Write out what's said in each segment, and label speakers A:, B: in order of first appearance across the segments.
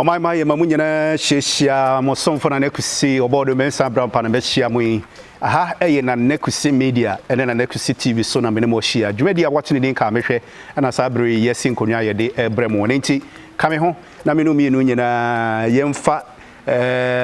A: ɔman ma yɛ ma mu nyinaa hyiahyia mo somfo na n'akusi ɔbɔɔdo mɛnsa abrampa na bɛhyia mo yi aha ɛyɛ na n'akusi media ɛne na n'akusi tv so na mene mo ahyia dwumadi a wɔte ne din ka mehwɛ ɛna saa bere yi yɛsi nkonnwa a yɛde ɛbrɛ mo ne nti ka me ho na me no mmienu nyinaa yɛmfa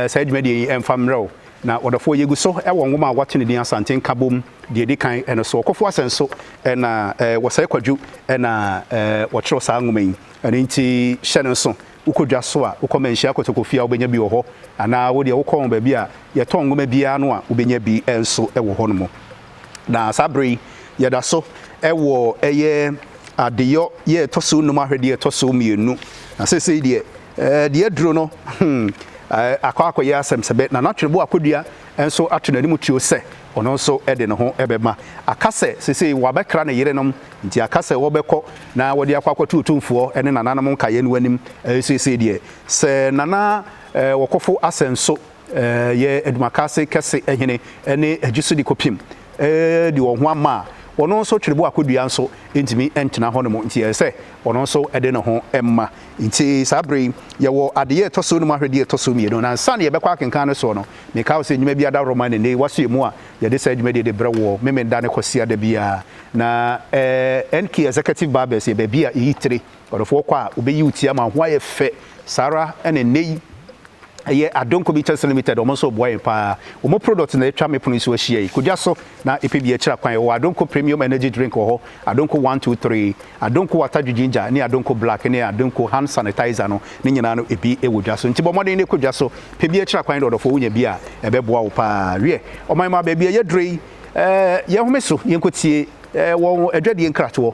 A: saa dwumadie yi mfa mmerɛ wo na ɔdɔfoɔ yɛgu so wɔ nwoma a wɔato ne din asante nkabom deɛ ɛdi kan ɛno so ɔkɔfo asɛn so ɛna wɔsɛe kwadwo ɛna wɔkyerɛw saa nwoma yi ɛno nti hyɛ no nso wokɔ dwa so a wokɔ manhyia kotokofie a wobɛnya bi wɔ hɔ anaa wodeɛ wokɔ baabi a yɛtɔn nwoma biara no a wobɛnya bi nso wɔ hɔ no mu Na saa bere yi, yɛda so wɔ ɛyɛ adeyɔ yɛ ɛtɔ so nnum ahwɛdeɛ ɛtɔ so mmienu. Na seesei deɛ, deɛ aduro no akɔ akɔyɛ asɛm sɛ bɛ. Na Natwenebo Akodua nso ato n'anim tuo sɛ ɔno nso de ne ho bɛma. Aka sɛ seesei wɔabɛkra ne yerenom, nti aka sɛ wɔbɛkɔ na wɔde akɔ akɔto Otumfoɔ ne nananom nkaeɛ no anim. Seesei deɛ, sɛ Nana Wɔkɔfo Asɛnso Yɛ Adwumakase Kɛse Hene ne Agyisodi Kɔpim de wɔn ho ama a, ɔno nso twerɛbo akɔdua nso ntumi ntena hɔnom, nti ɛsɛ sɛ ɔno nso de ne ho ma. Nti saa berɛ yi yɛwɔ adeyɛ a ɛtɔ so num ahwɛdeɛ a ɛtɔ so mmienu, na nsa no yɛbɛkɔ akenkan no soɔ no, mekae wo sɛ nnwuma bi adaworoma ne nnɛ yi wasoɛ mu a yɛde saa dwumadie de brɛ woɔ Memeneda ne Kwasiada biara. Na NK Executive Barbers yɛ baabi a yɛyi tire. Ɔdɔfo ɔkɔ a obeyi wo ti ama wo ho ayɛ fɛ. Saa ara na nnɛ yi ɛyɛ Adonko Bitters Limited, wɔn nso boa yɛn paa. Wɔn product na atwa me pono so ahyia yi. Kɔ dwa so na pɛ bi akyira kwan. Yɛwɔ Adonko Premium Energy Drink wɔ hɔ, Adonko One Two Three, Adonko Watadwe Ginger ne Adonko Black ne Adonko Hand Sanitizer no, ne nyinaa no ebi wɔ dwa so. Nti bɔ mmɔden na kɔ dwa so. Pɛ bi akyira kwan na ɔdɔfo wonya bi a ɛbɛboa wo paa. Wiɛ, ɔman mmaa baabi a yɛaduru yi, yɛnhome so yɛnkɔtie wɔn adwadie nkratoɔ.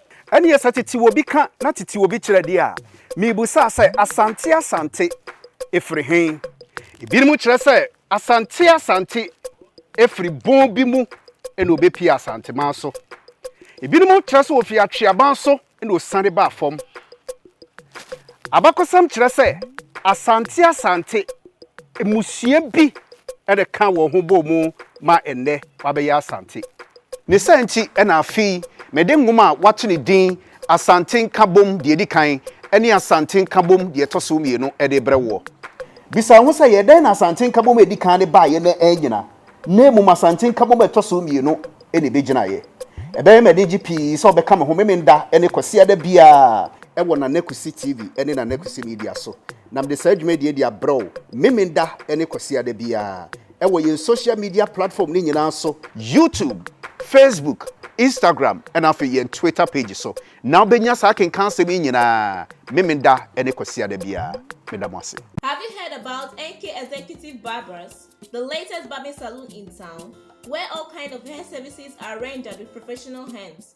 A: Ɛnneɛ sɛ tete obi ka na tete obi kyerɛ deɛ a, mebusaa sɛ, Asante Asante firi he? Ebinom kyerɛ sɛ, Asante Asante firi bon bi mu na ɔbɛpie Asanteman so. Ebinom kyerɛ sɛ ɔfiri Atweaban so na ɔsiane baa fam. Abakɔsɛm kyerɛ sɛ Asante Asante mmusua bi na ɛkaa wɔn ho bɔɔ mu ma nnɛ wɔabɛyɛ Asante. Ne saa nti na afei mede nwoma a wɔato no din Asante Nkabom Deɛ Ɛdi Kan ne Asante Nkabom Deɛ Ɛtɔ So Mmienu de rebrɛ woɔ. Bisa wo ho sɛ, 'Yɛ dɛn na Asante Nkabom a ɛdi kan no baeɛ na annyina, na mmom Asante Nkabom a ɛtɔ so mmienu na ɛbɛgyinaeɛ? Ɛbɛyɛ me anigye pii sɛ wobɛka me ho Memenda ne Kwasiada biara wɔ Nana Kwesi TV ne Nana Kwesi Media so, na mede saa dwumadie yi de abrɛ wo Memenda ne Kwasiada biara. wɔ yɛn social media platform no nyinaa so, YouTube, Facebook, Instagram ɛna afei yɛn Twitter page so na wobɛnya saa akenkan asɛm yi nyinaa Memenda ne Kwasiada biara. Meda mo ase. Have you heard
B: about NK Executive Barbers, the latest barbing saloon in town, where all kind of hair services are rendered with professional hands.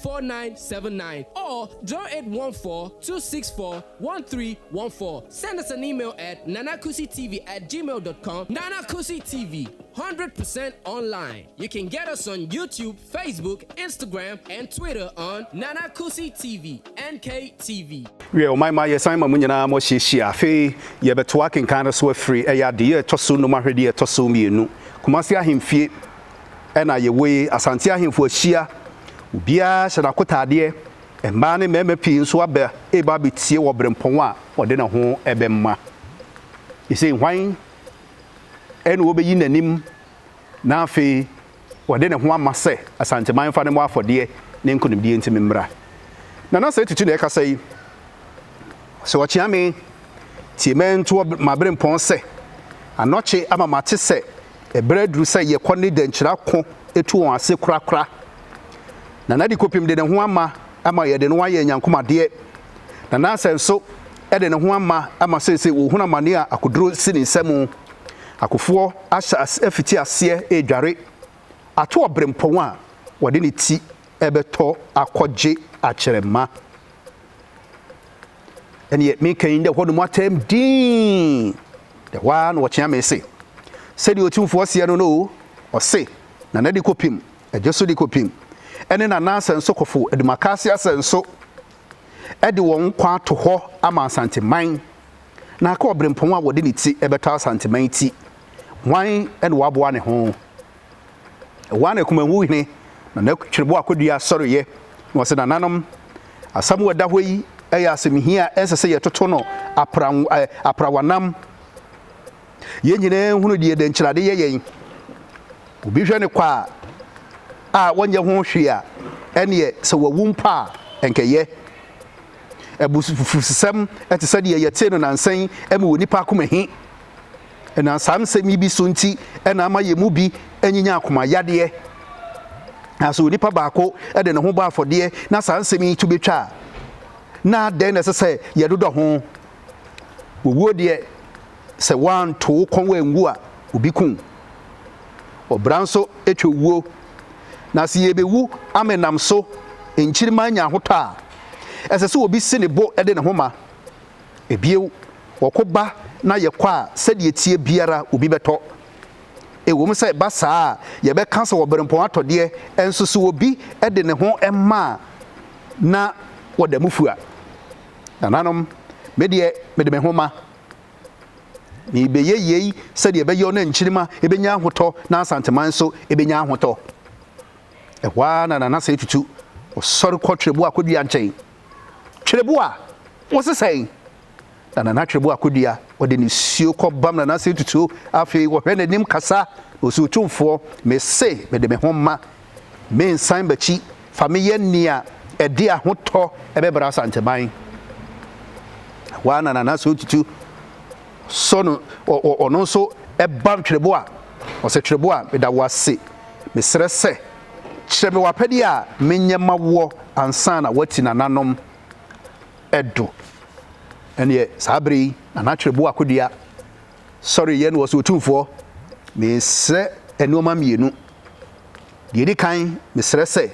C: 4979 or 0814-264-1314. Send us an email at nanakusitv at gmail dot com Nana Kusi TV, 100 percent online. You can get us on YouTube, Facebook, Instagram and Twitter on Nana Kusi TV, NKTV. Wiɛ, ɔman ma
A: yɛsan ma mo nyinaa mo ahyiahyia. Afei yɛbɛtoa akenkan no so afiri ɛyɛ adeyɛ ɛtɔ so nnum ahwɛdeɛ ɛtɔ so mmienu. Kumasi Ahemfie na yɛwɔ yi, Asante ahemfo ahyia, obiara hyɛ n'akotaadeɛ, mmaa ne mmarima pii nso aba reba abɛtie wɔ berempɔn a ɔde ne ho bɛma. Ɛsei, hwan ɛna wɔbɛyi n'anim na afei ɔde ne ho ama sɛ Asanteman fa ne mmɔ afɔdeɛ ne nkonimdie nti me mmra. Nana sɛ tutu na ɛkasa yi, sɛ ɔkyea me, tie mɛntoɔ ma berempɔn sɛ, anɔkye ama mate sɛ Bere aduru sɛ yɛkɔ ne dɛnkyira ko tu wɔn ase korakora. Nana Dikopim de ne ho ama ama yɛde no ayɛ nyankom adeɛ. Nana Asɛ nso de ne ho ama ama seesei ɔrehunu amane a akoduro si ne nsa mu. Akofoɔ ahyɛ ase afiti aseɛ redware ato ɔberempɔn a ɔde ne ti rebɛtɔ akɔgye akyerɛma. ɛneɛ meka yi dɛ hɔ nom atɛm dinn, dɛ hɔ ara na wɔkyea me se, Sɛdeɛ Otumfoɔ seɛ no no o, ɔse, na na de kɔpem, ɛgye so de kɔpem, ɛne na na asɛnsokɔfo adumakaase asɛnso de wɔn kwan ato hɔ ama Asanteman, na aka ɔbrempɔn a wɔde ne ti bɛtɔ Asanteman ti, hwan na waboa ne ho? Ɛhɔ ara na Akumanhu hene na n'atwerɛboɔ akɔdua sɔreeɛ, na ɔse, Nananom, asɛm a ɛda hɔ yi yɛ asɛmhia a ɛnsɛ sɛ yɛtoto no aprawanam. Yɛn nyinaa hunu deɛ dɛnkyerade yɛ yɛn. Obi hwɛ no kwa a ɔnyɛ ho hwee a, ɛneɛ sɛ wawu mpo a, ɛnka ɛyɛ. Abususɛm te sɛ deɛ yɛtee no nansa yi ma onipa akoma hi. Ɛnam saa nsɛm yi bi so nti na ama yɛn mu bi anyinya akomayadeɛ. Na sɛ onipa baako de ne ho bɔ afɔdeɛ na saa nsɛm yi to bɛtwa a, na dɛn na ɛsɛ sɛ yɛdodɔ ho? Owuo deɛ, sɛ woanto wo kɔn angu a, obi ku wo. Ɔbra nso twa owuo. Na sɛ yɛbɛwu ama ɛnam so nkyirimma anya ahotɔ a, ɛsɛ sɛ obi si ne bo de ne ho ma. Bio, wɔko ba na yɛkɔ a, sɛdeɛ ɛteɛ biara obi bɛtɔ. Ɛwom sɛ ɛba saa a, yɛbɛka sɛ ɔberempɔn atɔ deɛ, nso sɛ obi de ne ho ma a, na wɔda mu fua. Nananom, me deɛ, mede me ho ma. Merebɛyɛ yei sɛdeɛ ɛbɛyɔ na nkyirimma bɛnya ahotɔ na Asantema nso bɛnya ahotɔ. Ɛhɔ ara na Nanase tutu ɔsɔre kɔ twerɛboɔ akɔdua nkyɛn. Twerɛboɔ a wɔsesɛn na Nana Twerɛboɔ akɔdua, ɔde nisuo kɔbam Nana ase tutuo, afei ɔhwɛ n'anim kasa, na ɔsi Otumfoɔ, mese mede me ho ma, mensan m'akyi, fa me yɛ nea ɛde ahotɔ bɛbra Asanteman. Ɛhɔ ara na Nana Ase Otutu sɔ no, ɔno nso bam Twerɛboɔ a, ɔse Twerɛboɔ a meda wo ase, mesrɛ sɛ, Kyerɛ me w'apɛdeɛ a menyɛ ma woɔ ansa na woati nananom do. Ɛnneɛ saa berɛ yi na n'atwerɛboɔ akodua sɔreeɛ na ɔse, Otumfoɔ, mesrɛ nnoɔma mmienu. Deɛ ɛdi kan, mesrɛ sɛ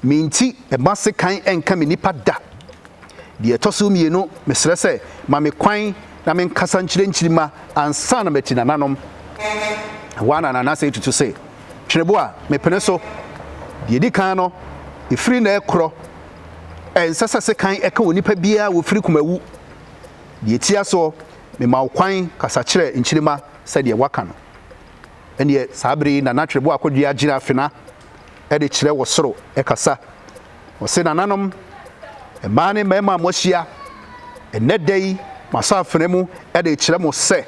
A: me nti mma sekan nka me nnipa da. Deɛ ɛtɔ so mmienu, mesrɛ sɛ ma me kwan na menkasa nkyerɛ nkyirimma ansa na mati nananom. Ɛhɔ ara na Nanase tutu se, Twerɛboɔ a mepene so, deɛ ɛdi kan no, ɛfiri nnɛ rekorɔ, ɛnsɛ sɛ sekan ka onipa biara a ɔfiri koma wu. Deɛ ɛtia soɔ, mema wo kwan kasa kyerɛ nkyirimma sɛdeɛ woaka no. Ɛnneɛ saa berɛ yi na na twerɛboɔ a kɔdua gyina afena de kyerɛ wɔ soro kasa. Ɔse, Nananom, mmaa ne mmarima a moahyia ɛnnɛ da yi masa afena mu de rekyerɛ mo sɛ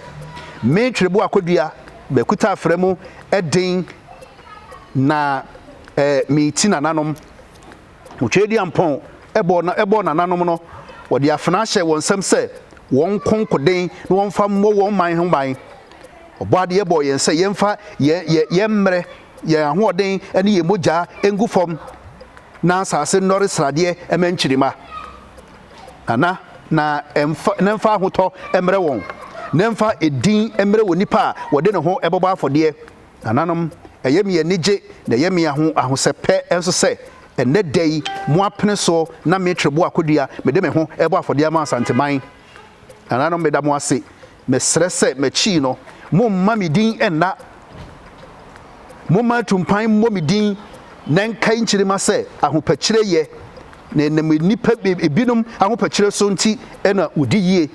A: me twerɛboɔ akɔdua makuta afena mu den na mereti nananom. Motwɛɛ dua mpɔn bɔɔ nananom no, wɔde afena hyɛɛ wɔn nsam sɛ wɔnko nkoden na wɔmfa mmɔ wɔn man ho ban. Ɔbɔadeɛ bɔɔ yɛn sɛ yɛmfa yɛn mmerɛ yɛn ahoɔden ne yɛn mogya ngu fam na asase nnɔre sradeɛ ma nkyirimma, na na na ɛmfa na ɛmfa ahotɔ mmrɛ wɔn, na ɛmfa edin mmrɛ onipa a wɔde ne ho bɛbɔ afɔdeɛ. Nananom, ɛyɛ me anigye na ɛyɛ me aho ahosɛpɛ nso sɛ, ɛnnɛ da yi, mo apene so na me Treboa Kodua, mede me ho rebɔ afɔdeɛ ama Asanteman. Nananom, meda mo ase. Mesrɛ sɛ m'akyi no momma me din nna. Momma atumpan mmɔ me din na ɛnkae nkyirimma sɛ ahopakyire yɛ, na ɛnam nnipa binom ahopakyire so nti na wɔdi yie,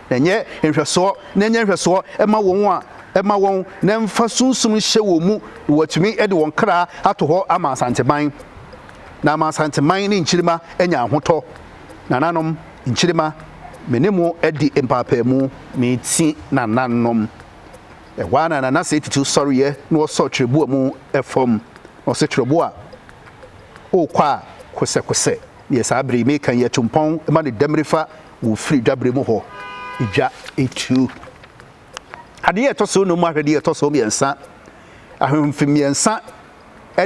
A: na ɛnyɛ nhwɛsoɔ, na ɛnyɛ nhwɛsoɔ mma wɔn a ɛma wɔn, na ɛmfa sunsum nhyɛ wɔn mu, na wɔatumi de wɔn kra ato hɔ ama Asanteman, na ama Asanteman ne nkyirimma anya ahotɔ. Nananom, nkyirimma, me ne mo adi mpaapaamu. Ne ti nananom, ɛhɔ ara na Nanase titiriw sɔreeɛ na ɔsɔɔ twerɛboɔ mu fam, na ɔse twerɛboɔ a wokɔ a kosɛkosɛ, deɛ saa bere yi meka yi atu mpɔn ma ne dɛmmire fa wɔ firi dwabere mu hɔ, dwa tuo. Adeɛ a ɛtɔ so num ahwɛdeɛ a ɛtɔ so mmiɛnsa, ahemfo mmiɛnsa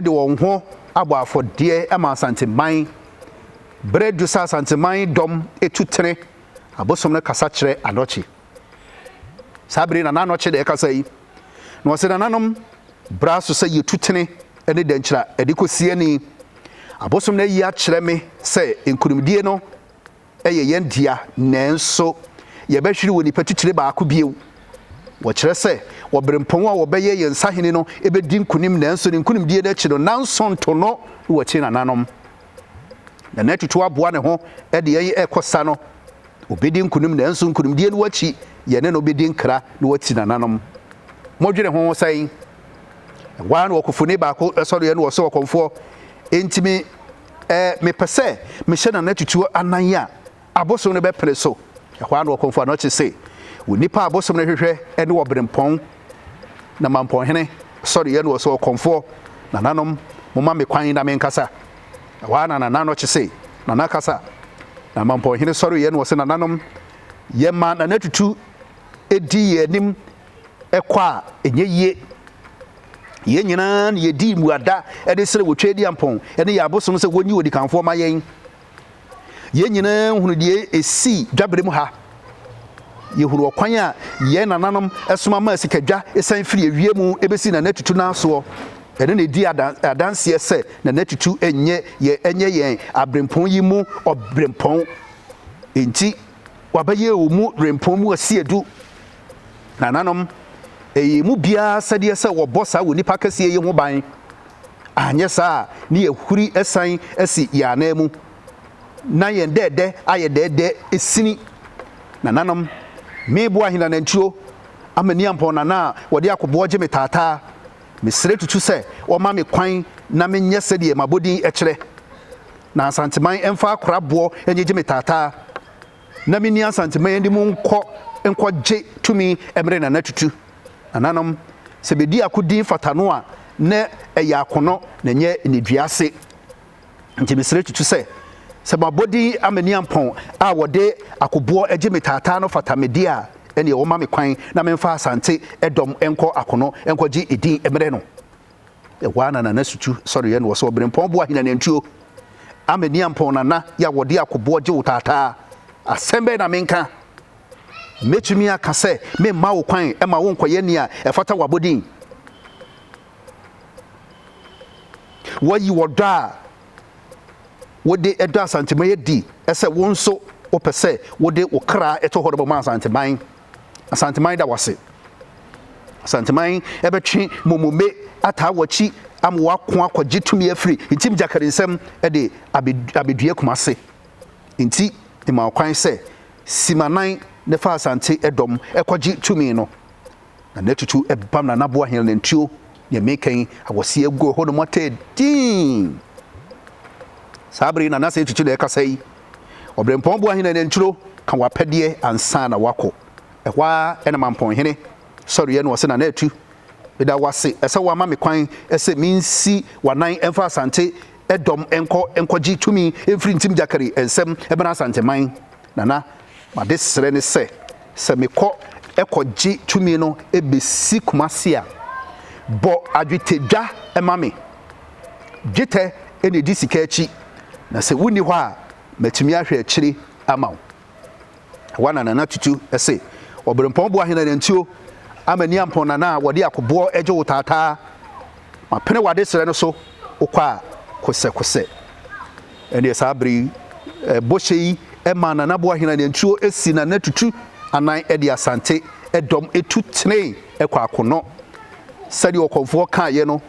A: de wɔn ho abɔ afɔdeɛ ma Asanteman, Bere adu sɛ Asanteman dɔm tu tene abosom no kasa kyerɛ Anɔkye. Saa bere yi na n'Anɔkye na ɛkasa yi, na ɔse, Nananom, bere aso sɛ yɛtu tene ne dɛnkyira de kɔ siani. Abosom no ayi akyerɛ me sɛ nkonimdie no yɛ yɛn dea, nanso yɛbɛhwere wɔ nipa titire baako bio. Wɔkyerɛ sɛ Ɔberempɔn a ɔbɛyɛ yɛn sahene no bɛdi nkonim, nanso ne nkonimdie no akyi no, nanso ntono wɔ akyire nananom. na na atutu aboa ne ho de yɛn rekɔ sa no, obedi nkonim nanso nkonimdie no akyi yɛne no bedi nkra na wati nananom. Modwene ho sɛn? Ɛhɔ ara na ɔkofoni baako sɔreɛ na ɔse ɔkɔmfoɔ, Enti me eh, mepɛ sɛ mehyɛ Nana Tutuo anan a, Abosom no bɛpene so. Ɛhɔ ara na ɔkɔmfo anɔkye se, Onipa a abosom no hwehwɛ ne ɔberempɔn, na mampɔnhene sɔre yɛ no ɔsɛ ɔkɔmfoɔ. Nananom, momma me kwan na menkasa. Ɛhɔ ara na Nana anɔkye se, Nana kasa. Na mampɔnhene sɔre yɛ no ɔsɛ, Nananom, yɛma Nana Tutu di yɛn anim kɔ a, ɛnyɛ yie. Yɛn nyinaa na yɛdi mmuada de srɛ wɔ Tweediampɔn ne yɛn abosom sɛ wɔnyi odikanfoɔ ma yɛn. Yɛn nyinaa hunu deɛ ɛsii dwaberɛ mu ha. Yɛhunu ɔkwan a yɛn nananom soma maa sikadwa san firi awia mu bɛsi Nana Atutu nan soɔ. Ɛno na ɛdi adanseɛ sɛ Nana Atutu nyɛ yɛn ɛnyɛ yɛn aberempɔn yi mu ɔberempɔn. Enti wabɛyɛ ɔmu berempɔn mu ɔseɛdu. Nananom, ɛyɛ yɛn mu biara asɛdeɛ sɛ wɔbɔ saa onipa kɛseɛ yi ho ban, anyɛ saa a ne yɛahuri asiane asi yɛn anan mu, na yɛn dɛɛdɛ ayɛ dɛɛdɛ sini. Nananom, mebo ahina nantuo ama Niampɔn Nana a wɔde akoboɔ gye me taataa. Mesrɛ tutu sɛ wɔma me kwan na menyɛ sɛdeɛ m'abɔdin kyerɛ, na Asanteman mfa akoraboɔ nnyegye me taataa. na menni Asante ma yɛnde mo nkɔ nkɔ gye tumi ɛmere Nana Tutu. Nananom, sɛ bɛdi ako din fata no a, na ɛyɛ akonɔ na ɛnyɛ nnedua ase. Nti mesrɛ Tutu sɛ, sɛ mabɔ din Amaniampɔn a wɔde akoboɔ gye me taataa no fata me deɛ a, ɛneɛ wɔma me kwan na memfa Asante dɔm nkɔ akonɔ nkɔ gye edin ɛmere no. Ɛhɔ ara na Nana Sutu sɔreeɛ na ɔsɛ Ɔberempɔn boa hena nantuo? Ama ni ampɔn Nana yɛ a wɔde akoboɔ gye wo taataa. Asɛm bɛn na menka? Mɛtumi aka sɛ memma wo kwan ma wonkɔyɛ nea ɛfata w'abɔdin? Woayi ɔdɔ a wode dɔ Asanteman adi sɛ wo nso wopɛ sɛ wode wo kra to hɔ de bɛma Asanteman. Asanteman da w'ase. Asanteman ɛbɛtwe momome ataa w'akyi ama w'ako akɔgye tumi afiri ntim gyakari nsam ɛde abedue Kumase. Nti mma ɔkwan sɛ Simanan ne fa Asante ɛdɔm ɛkɔgye tumi no. Na n'atutu ɛbam na n'aboa hɛn nantuo ne ɛmekɛn awɔseɛ agu ɛhɔ nom atɛɛ dinn. Saa bere yi na n'ase atutu na ɛkasa yi. Ɔberempɔn Boahene Anantwiro ka w'apɛdeɛ ansa na woakɔ. Ɛhɔ ara na Mampɔnhene sɔreeɛ na ɔse Nana Atu, meda wo ase sɛ woama me kwan sɛ mensi w'anan mfa Asante dɔm nkɔ nkɔgye tumi mfiri Ntim Gyakari nsam mmra Asanteman. Nana, m'adesrɛ ne sɛ, sɛ mekɔ kɔgye tumi no bɛsi Kumasi a, bɔ adwetɛdwa ma me Dwetɛ na edi sika akyi, na sɛ wunni hɔ a, matumi ahwɛ akyiri ama wo. Ɛhɔ na Nana Tutu se, Ɔberempɔn boa hena na ntuo ama Niampɔn Nana a wɔde akoboɔ gye wo taataa? Mapene w'adesrɛ no so, wokɔ a, kosɛkosɛ. Ɛnneɛ saa bere yi, bɔhyɛ yi maa Nana boa hena na ntuo si Nana Tutu anan de Asante dɔm tu tenee kwakonɔ. Sɛdeɛ ɔkɔmfoɔ kaeɛ no,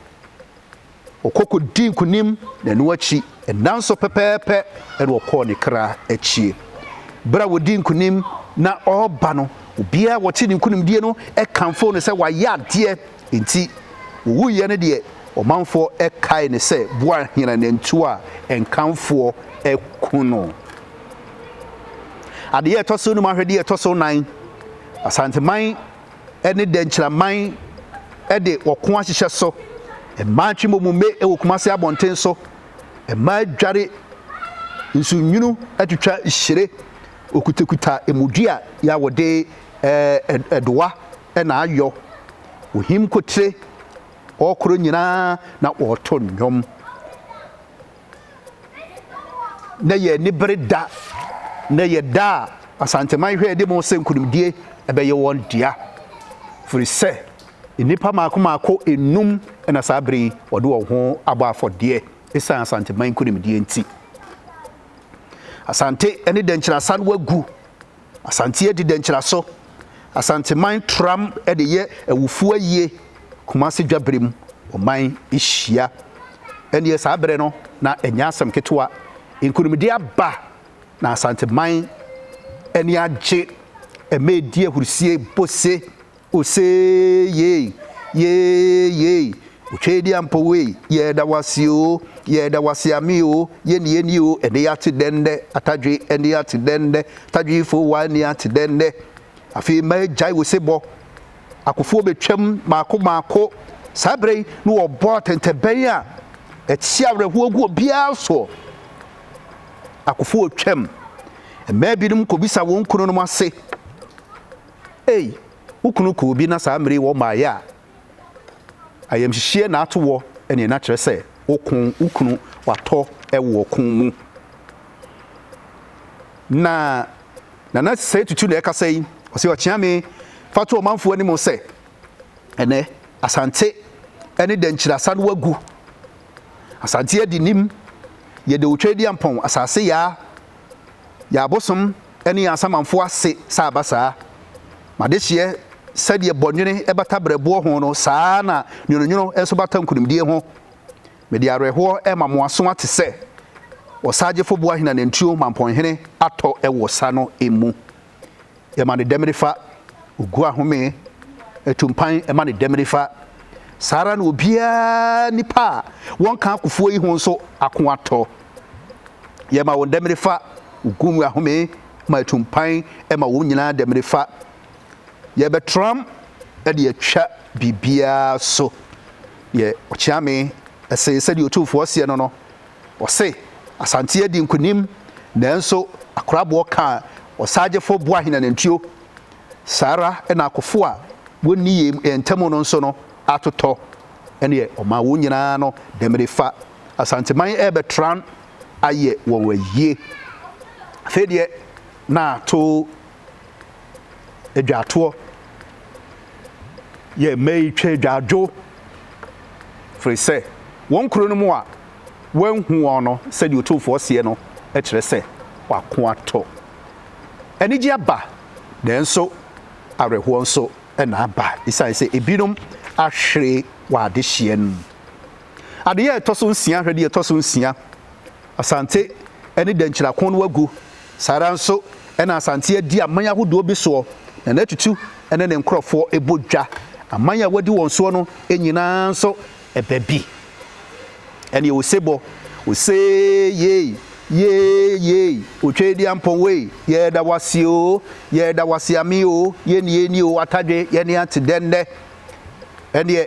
A: ɔkɔ kɔdii nkonim na ɛno akyi nnanso pɛpɛɛpɛ na ɔkɔɔ ne kra akyie. Berɛ a wɔdii nkonim na ɔreba no, obiara a wɔte ne nkonimdie no kamfoo no sɛ wayɛ adeɛ, enti ɔwuiɛ no deɛ ɔmanfoɔ kae no sɛ Boahene nantuo a nkamfoɔ ku no. Adeyɛ a ɛtɔ so num ahwɛdeɛ a ɛtɔ so nan Asanteman. ne dɛnkyiraman de ɔko ahyehyɛ so. Mmaa twe momome wɔ Kumase abɔnten so. Mmaa dware nsonwunu twitwa hyire. Okutakuta emodua yi a wɔde ɛdowa na ayɔ. Ohim kotire, ɔrekoro nyinaa na ɔreto nnwom. na yɛn ani bere da na yɛ da a asanteman hwɛ de mo sɛ nkunimdie ɛbɛyɛ wɔn dea firi sɛ nnipa maako maako enum na saa bere yi wɔde wɔn ho abɔ afɔdeɛ ɛsiane asanteman nkunimdie nti asante ne dɛnkyerɛ asa no agu Asante adi dɛ nkyeraso. Asanteman tram de yɛ awufo ayie Kumase Dwabrem ɔman hyia. Ɛnneɛ saa berɛ no na ɛnyɛ asɛm ketewa. Nkunimdie aba na Asanteman ani agye. Ɛma ɛdi ahurisie bose. Osee yei, yee yei, Otwedeɛ mpo wei, yɛɛda wo ase oo, yɛɛda wo ase amee oo, yɛ nie nie oo, ɛnee ate dɛn nnɛ, Atadwe ɛnee ate dɛn nnɛ, Atadwefoɔ wa ɛnee ate dɛn nnɛ, afei mma ɛgyae osebɔ, akofoɔ bɛtwam maako maako, saa berɛ yi na wɔbɔ atɛntɛbɛn a ɛte awerɛhoɔ gu obiara soɔ, akofoɔ twam, mmaa binom kɔbisa wɔn kununom ase. Ei, wo kunu kɔɔ bi na saa mmere yi wɔ mmaeɛ a, ayamhyehyeɛ na ato wɔ, ɛneɛ na kyerɛ sɛ woko wo kunu watɔ wɔ ɔko mu. Na Nana Sɛe Tutu na ɛkasa yi, ɔse ɔkyea me fa to ɔmanfoɔ anim sɛ ɛnɛ Asante ne Dankyiri asa no agu. Asante adi nim, yɛde otwa adi ampɔn, asase yaa, yɛabosom ne yɛn asamanfoɔ ase sɛ aba saa. M'adehyeɛ, sɛdeɛ bɔnwene bata berɛboɔ ho no, saa ara na nwononwono nso bata nkunimdie ho. Mede awerɛhoɔ rema mo aso ate sɛ ɔsaagyefo boahen anantwio ma mpɔnhene atɔ wɔ sa no mu. Yɛma no dɛm nifa, ogu ahome, ɛtu mpan ma no dɛm nifa. Saa ara na obiara nipa a wɔnka akofoɔ yi ho nso ako atɔ. Yɛma wɔn dɛmene fa, wogu mu ahome ma ɛtu mpan ma wɔn nyinaa dɛmene fa. Yɛbɛtram de atwa biribiara so. Deɛ ɔkyea me se, sɛdeɛ Otumfoɔ seɛ no no, ɔse, Asante adi nkonim, nanso akoraboɔ ka ɔsagyefo boahene anantuo. Saa ara na akofo a wɔnni yɛn ntam no nso no atotɔ. Ɛnneɛ ɔma wɔn nyinaa no dɛmene fa. Asanteman rebɛtra ayɛ wɔn ayie. Afei deɛ na ato adwatoɔ yɛ mma yi twa adwadwo firi sɛ wɔn kuro no mu a wɔanhu wɔn no sɛdeɛ otumfoɔ seɛ no kyerɛ sɛ wako atɔ. Anigye aba nanso awerɛhoɔ nso na aba esiane sɛ ebinom ahwere wɔ adehyeɛ no mu. Adeyɛ a ɛtɔ so nsia hwɛ deɛ ɛtɔ so nsia, Asante ne Dɛnkyira ko no agu. Saa ara nso na Asante adi aman ahodoɔ bi soɔ na Nana Tutu ne ne nkorɔfoɔ bɔ dwa. Aman a wadi wɔn soɔ no nyinaa nso ɛbɛ bi. Ɛneɛ Osebɔ, Osee yei, yee yei, Otwedeɛ ampɔn wei, yɛda wo ase o, yɛda wo ase ame o, yɛn nie nie o, Atadwe, yɛne ante dɛn nnɛ. Ɛneɛ.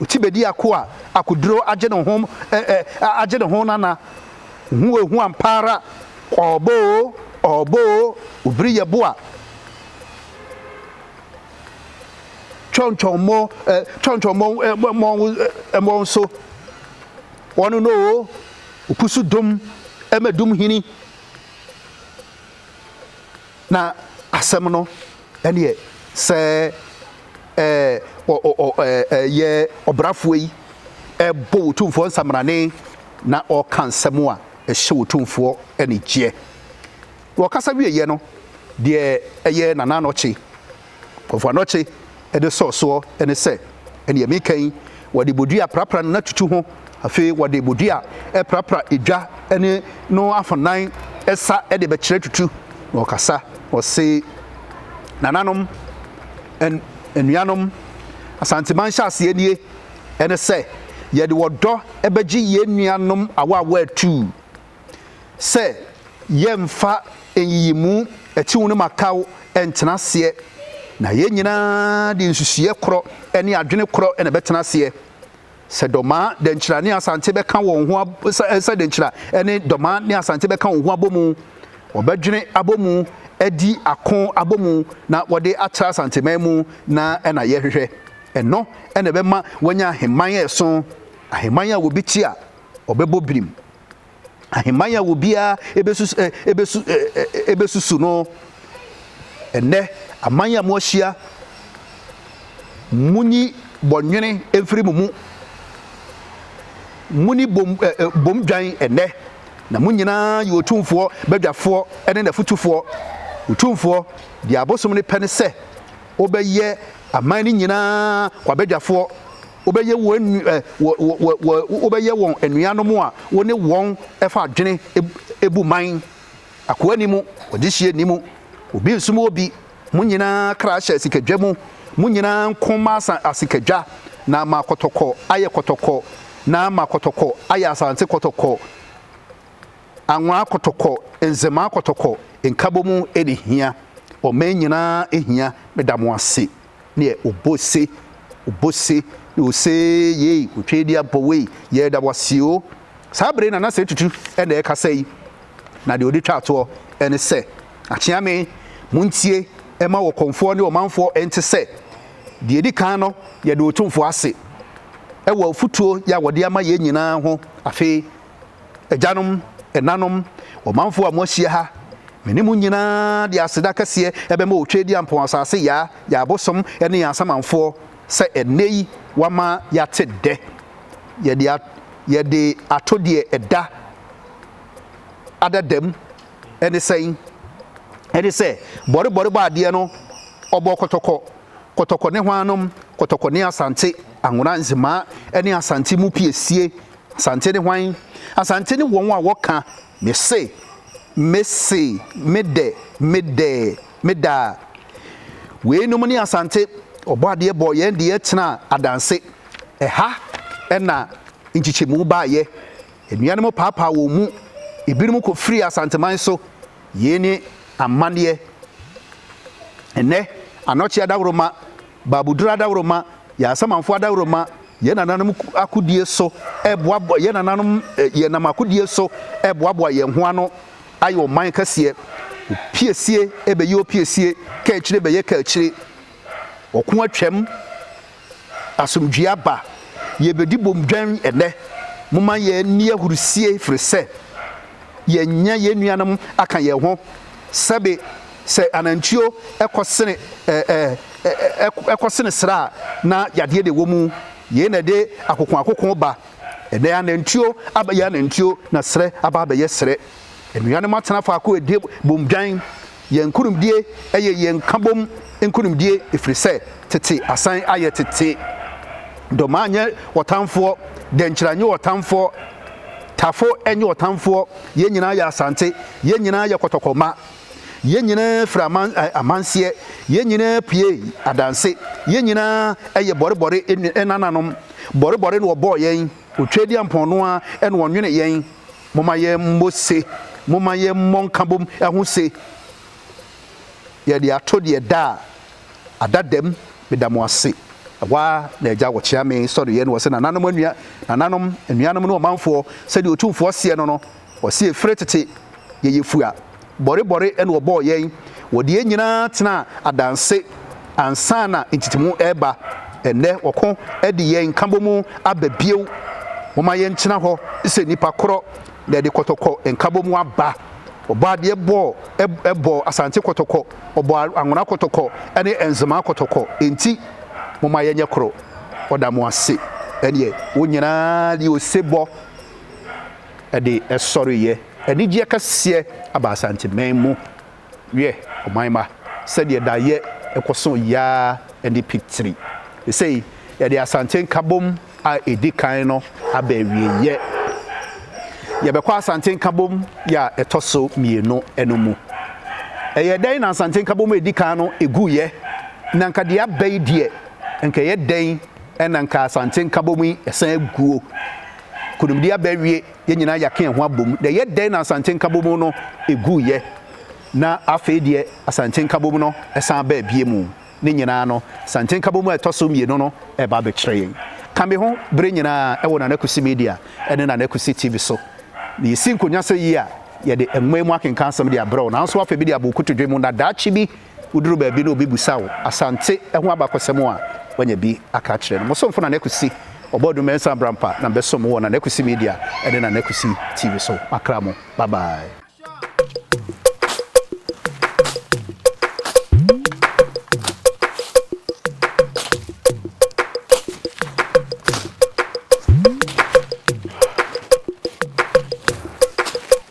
A: otsi bedi ako a akoduro agye no ho eh agye no ho nana hu ehu ampaara ɔɔbɔ o ɔɔbɔ o obiri yɛ boa twɔntwɔn mo eh twɔntwɔn mo eh mo eh mo nso wɔn no o okusu dum ɛmɛ dum hini Na asɛm no ɛneɛ sɛ ɛɛ ɔ ɔ ɔ ɛɛ yɛ ɔbrafoɔ yi ɛɛbɔ Otumfoɔ nsamrane na ɔɔka nsɛm a ɛhyɛ Otumfoɔ anigyeɛ. Ɔkasa wieɛ no, deɛ ɛyɛ Nana Anɔkye Wɔfa anɔkye de sɔ soɔ ne sɛ, Ɛnneɛ meka yi, wɔde bodua prapra no na tutu ho, afei wɔde bodua prapra edwa ne no afanan sa de bɛkyerɛ tutu, na ɔkasa, ɔse, Nananom, anuanom, Asanteman nhyɛaseɛ nie, ɛne sɛ, yɛde ɔdɔ bɛgye yɛn nuanom awaawa atuu. sɛ yɛmfa nyiyimu atiw no mataw ntena aseɛ, na yɛn nyinaa de nsusuiɛ korɔ ne adwene korɔ na ɛbɛtena aseɛ. Sɛ Dɔma, Dɛnkyira ne Asante bɛka wɔn ho sɛ Dɛnkyira ne Dɔma ne Asante bɛka wɔn ho abɔmu, wɔbɛdwene abɔmu, adi ako abɔmu na wɔde atra Asanteman mu na ɛna yɛhwehwɛ. Ɛno na ɛbɛma wɔanya ahemman a ɛso, ahemman a wɔbi te a wɔbɛbɔ birim. ahemman a obiara bɛsusu no. Ɛnnɛ, aman a moahyia, monyi bɔnwene mfiri mo mu. Moni bom bom dwan ɛnnɛ, na mo nyinaa yɛ Otumfoɔ badwafoɔ ne n'afotufoɔ. Otumfoɔ, deɛ abosom no pɛ ne sɛ ɔbɛyɛ aman no nyinaa w'abadwafoɔ. wobɛyɛ wɔn wobɛyɛ wɔn anuanom a wo ne wɔn fa adwene bu man. Akoa ni mu, ɔdehyeɛ nni mu, obi nsom obi, mo nyinaa kra hyɛ asikadwa mu, mo nyinaa nko ma asikadwa, na ma kɔtɔkɔ ayɛ kɔtɔkɔ, na ma kɔtɔkɔ ayɛ asante kɔtɔkɔ, anwa kɔtɔkɔ, nzema kɔtɔkɔ, nkabɔmu ɛne hia, ɔman nyinaa hia, meda mo ase. neɛ ɔbɔ se, ɔbɔ se, na ɔse yei, ɔtwa di abɔ wei, yɛda wo ase o. Saa bere na na sɛ tutu na ɛkasa yi, na deɛ ɔde twa toɔ ne sɛ, Akyeame, montie ma ɔkɔmfoɔ ne ɔmanfoɔ nte sɛ, deɛ ɛdi kan no, yɛda Otumfoɔ ase wɔ afutuo yɛ a ɔde ama yɛn nyinaa ho, afei, Agyanom, ɛnanom, ɔmanfoɔ a moahyia ha, me ne mo nyinaa de aseda kɛseɛ bɛma Otwedeampɔn asase Yaa, yɛn abosom ne yɛn asamanfoɔ sɛ ɛnnɛ yi wama yɛate dɛ. Yɛde yɛde ato deɛ ɛda adadam ɛne sɛn? Ɛne sɛ bɔrebɔre bɔ adeɛ no ɔbɔ kɔtɔkɔ, kɔtɔkɔ ne hwannom, kɔtɔkɔ ne Asante, Anwona, Nzemaa ne Asante mu piesie Asante ne hwan? Asante ne wɔn a wɔka, Mese, mese, medɛ, medɛ, meda. Weinom ne Asante, Ɔbɔadeɛ bɔɔ yɛn de yɛtenaa adanse. Ɛha na nkyekyɛmu baeɛ. Anuanom paapaa wɔn mu. Ebinom kɔfirii Asanteman so. Yei ne amanneɛ. Ɛnnɛ, Anɔkye Adaworoma. Baabudur adaworoma, yɛn Asamanfo adaworoma, yɛn nananom akodie so reboaboa yɛn nananom yɛnam akodie so reboaboa yɛn ho ano ayɛ ɔman kɛseɛ. Opiesie bɛyɛ opiesie, kaakyire bɛyɛ kaakyire. Ɔko atwam, asomdwoeɛ aba. Yɛrebɛdi bom dwɛn ɛnnɛ. Momma yɛnni ahurisie, ɛfiri sɛ yɛanya yɛn nuanom aka yɛn ho. Sɛbe Sɛ anantwio kɔ sene ɛɛ kɔ sene sra a, na yadeɛ de wɔ mu. Yei na ɛde akoko akoko ba. Ɛnɛ anantwio abɛyɛ anantwio na serɛ aba abɛyɛ serɛ. Anuanom atena faako ɛdie bom dwan. Yɛn nkunimdie ɛyɛ yɛn nkabom nkunimdie ɛfiri sɛ tete asan ayɛ tete. Domaa nyɛ ɔtamfoɔ, Dɛnkyira nyɛ ɔtamfoɔ, Tafo nyɛ ɔtamfoɔ, yɛn nyinaa yɛ Asante, yɛn nyinaa yɛ kɔtɔkɔ mma. Yɛn nyinaa firi aman amanseɛ, yɛn nyinaa pue adanse, yɛn nyinaa yɛ bɔrebɔre nananom, bɔrebɔre na wɔbɔɔ yɛn, Otweaduampɔn no ara na ɔnwene yɛn. Momma yɛmmɔ se, momma yɛmmɔ nkabom ho se, Yɛde ato deɛ ɛda a ada dam, meda mo ase. Ɛhɔ ara na agya wɔkyea me sɔreeɛ na ɔse, Nananom anua, nananom, anuanom ne ɔmanfoɔ, sɛdeɛ Otumfoɔ seɛ no no, Ɔse fre tete yɛyɛ fua bɔre bɔre na wɔbɔɔ yɛn wɔde yɛn nyinaa tenaa adanse ansa na ntetemu reba ɛnnɛ wɔko de yɛn nkabomu aba bio momma yɛn tena hɔ sɛ nnipa korɔ na yɛde kɔtɔkɔ nkabomu aba wɔbɔ adeɛ bɔɔ ɛbɔɔ asante kɔtɔkɔ wɔbɔ anwona kɔtɔkɔ ne nzema kɔtɔkɔ enti momma yɛnyɛ korɔ ɔda mo ase ɛneɛ wo nyinaa deɛ ose bɔ. de sɔreeɛ. Anigyeɛ kɛseɛ aba Asanteman mu. Wiɛ, ɔman mma, sɛdeɛ daeɛ kɔ so yɛ ara ne pitiri. Sesei, yɛde Asante Nkabom a ɛdi kan no aba awieeɛ. Yɛbɛkɔ Asante Nkabom yɛ a ɛtɔ so mmienu no mu. Ɛyɛ dɛn na Asante Nkabom a ɛdi kan no guiɛ? Na nka deɛ aba yi deɛ, nka ɛyɛ dɛn na nka Asante Nkabom yi san aguo? Nkonimdi aba awie, yɛn nyinaa yɛaka yɛn ho abom. Na ɛyɛ dɛn na Asante Nkabom no guiɛ na afei deɛ Asante Nkabom no san baa bio mu? Ne nyinaa no, Asante Nkabom a ɛtɔ so mmienu no reba abɛkyerɛ yɛn. Ka me ho bere nyinaa wɔ Nana Kusi Media ne Nana Kusi TV so. Na yɛsi nkonya sɛ yi a, yɛde nwoma yi mu akenkan asɛm de abrɛ wo. Nanso afei bi de abɔ wo kotodwe mu na daakye bi, woduru baabi na obi bisa wo Asante ho abakɔsɛm a, woanya bi aka akyerɛ no. Mo somfo Nana Kwesi Ɔbɔadu Mensah Abrampa na mebɛsom mo wɔ Nana Kwesi Media ne Nana Kwesi TV so. Makra mo. Bye bye.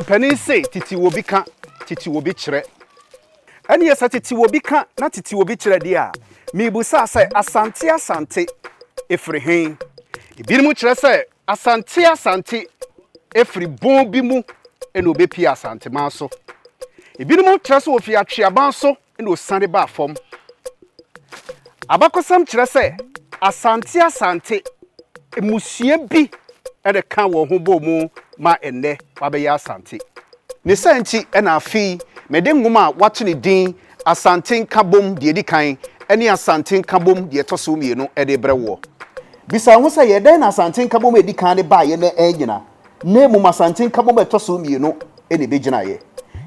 A: Mpanin se titi wɔ bi ka, titi wɔ bi kyerɛ. Ɛneɛ sɛ titi wɔ bi ka na titi wɔ bi kyerɛ deɛ a, mebusa sɛ Asante Asante ɛfiri he? Ebinom kyerɛ sɛ Asante Asante ɛfiri bon bi mu na ɔbɛpie Asanteman so. Ebinom kyerɛ sɛ ɔfiri Atweaban so Ɛnna osian baa fam. Abakɔsɛm kyerɛ sɛ Asante Asante mmusua bi na ɛkaa wɔn ho bɔɔ mu ma ɛnnɛ wɔabɛyɛ Asante. Ne saa nti na afei mede nwoma a wɔato ne din Asante Nkabom Deɛ Ɛdi Kan ne Asante Nkabom Deɛ Ɛtɔ So Mmienu de rebrɛ woɔ. Bisa wo ho sɛ, 'Yɛ dɛn na Asante Nkabom a ɛdi kan no baeɛ na annyina? na mmom Asante Nkabom a ɛtɔ so mmienu na ebegyinaeɛ.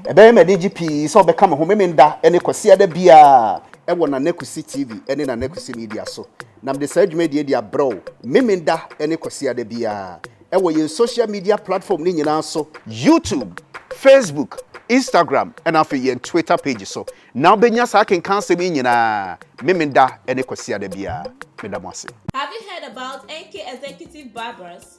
A: Ɛbɛyɛ me anigye pii sɛ wobɛka me ho Memenda ne Kwasiada biara wɔ Nana Kwesi TV ne Nana Kwesi Media so, na mede saa dwumadie yi de abrɛ wo Memenda ne Kwasiada biara wɔ yɛn social media platform no nyinaa so, YouTube, Facebook, Instagram na afei yɛn Twitter page so na wobɛnya saa akenkan asɛm yi nyinaa Memenda ne Kwasiada biara. Meda mo ase. Have you heard
B: about NK Executive Barbers?